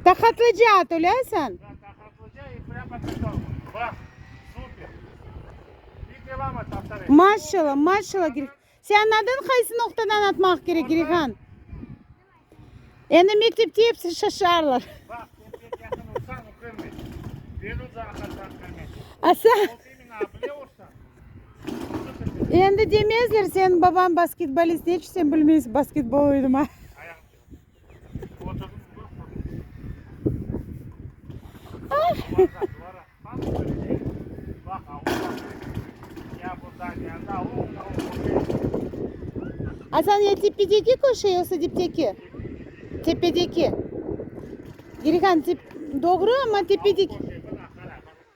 Taqatlıca at, öleysen? Maşşala, maşşala, Gir-. Senin adın qaysı noqtadan atmaq kerek, Girihan? Endi mektepte episi şaşarlar. Asa. Endi demezler, senin babañ basketbolist, eç sen bilmeysiñ basketbol oynama. Asan ya tepedeki köşe, yoqsa dipteki? Tepedeki. Gerihan, doğru, amma tepedeki.